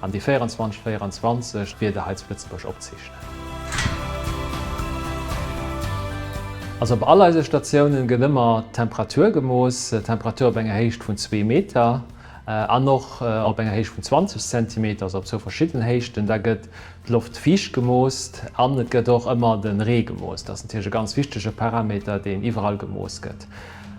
An déi 24 24 Wieder hei zu Lëtzebuerg opzeechnen. Also op all eise Statiounen gëtt ëmmer d'Temperatur gemooss, d'Temperatur op enger Héicht vun zwee Meter an och op enger Héicht vun 20 Zentimeter, also op zwou verschiddenen Héichten. Da gëtt d'Loft viischt gemoost an et gëtt och ëmmer de Ree gemoost. Dat ass natierlech e ganz wichtege Parameter, deen iwwerall gemooss gëtt.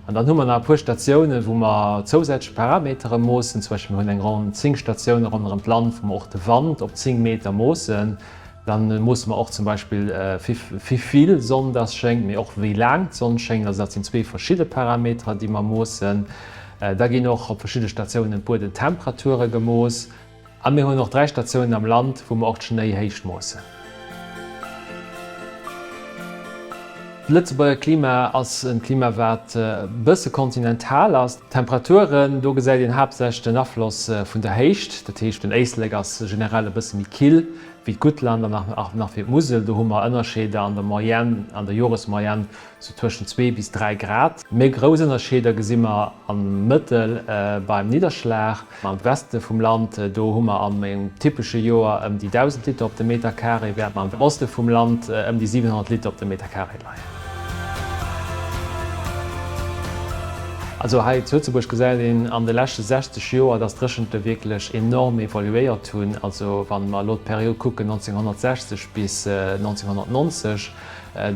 An dann hu mer nach e puer Statiounen, wou mer zousätzlech Parametere moossen. Zum Beispill, mir hunn eng Ronn 10 Statioune ronderëm d'Land, wou mer och de Wand op 10 Meter moossen. Da moosse mer och zum Beispill, wéi vill Sonn dass schéngt, mee och wéi laang d'Sonn schéngt. Also dat sinn zwee verschidde Parameterer, déi mer moossen. Da ginn och op verschidde Statiounen d'Buedentemperature gemooss. A mir hunn och 3 Statiounen am Land, wou mer och d'Schnéi Héicht moossen. D'Lëtzebuerger Klima ass en Klima wat e bësse kontinental ass. D'Temperaturen, do gesäit een haaptsächlech den Afloss vun der Héicht. Dat heescht den Éislek ass generell e bësse méi kill wéi d'Guttland an nach wéi d'Musel. Do hu mer Ënnerscheeder an der Moyenne, an der Joresmoyenne sou tëschent 2 bis 3 Grad. Méi grouss Ënnerscheeder gesi mer am Mëttel beim Nidderschlag. Am Weste vum Land, do hu mer an engem typesche Joer ëm déi 1.000 Liter op de Meterkaree, während mer am Oste vum Land ëm déi 700 Liter op de Meterkaree leien. Also hei zu Lëtzebuerg gesäit een an de leschte 60 Joer, dass d'Dréchente wierklech enorm evoluéiert hunn. Also wa mer elo d'Period kucken 1960 bis 1990,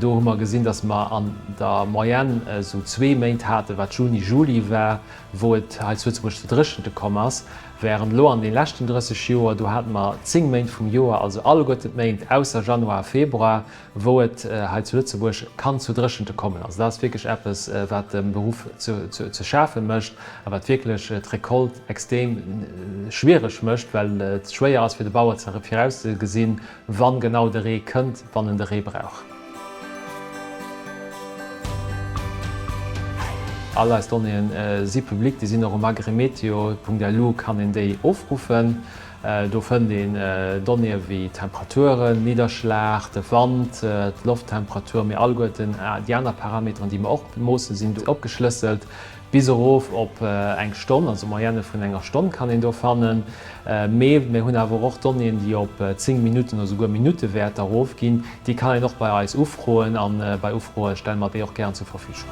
Do hu mer gesinn, dass mer an der Moyenne esou zwee Méint haten, wat Juni, Juli war, wou et hei zu Lëtzebuerg zu Dréchente komm ass, wärend elo an deene leschten 30 Joer, do hate mer zéng Méint vum Joer, also alleguerten d'Méint ausser Januar a Februar, wou et hei zu Lëtzebuerg kann zu Dréchente kommen. Also dat ass wierklech eppes, wat dem Beruff ze schafe mécht a wat wierklech d'Recolte extrem schwiereg mécht, well et schwéier ass fir de Bauer ze virauszegesinn, Wann genau de Ree kënnt, wann en de Ree brauch. All eis Donnéeën si public, déi sinn och um agrimeteo.lu kann een déi ofruffen. Do fënnt een Donnéeë wéi Temperaturen, Nidderschlag, de Wand, d'Lofttemperatur, mee alleguerten déi aner Parameteren, déi mer och moossen, sinn do opgeschlësselt. Bis erof op eng Stonn, also Moyenne vun enger Stonn kann een do fannen. Mee mir hunn awer och Donnéeën, déi op 10 Minutten oder souguer Minuttewäerter erofginn. Déi kann een och bei eis ufroen a bei Ufroe stelle mer déi och gären zur Verfügung.